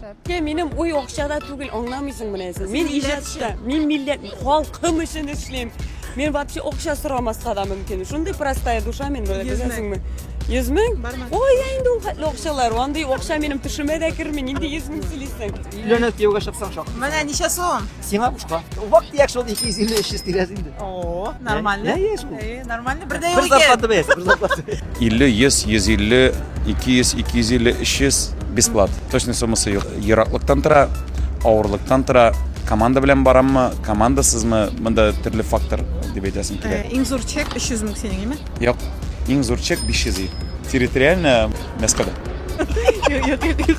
Шәпкә минем уй акчада түгел, аңламыйсың менә син. Мин иҗатта, мин милләт, халкым өчен эшлим. Мин вообще акча сорамаска да мөмкин. Шундый простая душа мин, беләсеңме? 100 мең? Ой, инде ул хәтле акчалар. Андый акча минем төшемә дә керми. Нинди 100 мең сөйлисең? Өйләнеп кияүгә чыксаң шак. Менә ничә сум? Сиңа бушка. Вак дияк шул 250-300 тирәсе инде. О, нормально. Ә, яшь ул. Э, Нормально, бер дә Бер юк икән. зарплата бәясе, бер зарплата. 50, 100, 150, 200, 250, 300 бесплат. Точный суммасы юк. Ераклыктан тора, авырлыктан тора. Команда белән бараммы, командасызмы, монда төрле фактор дип әйтәсем Э, килә. Иң зур чек 300 мең синең, име? Юк, иң зур чек 500 ел. Территориально Мәскәүдә. Юк, юк, юк.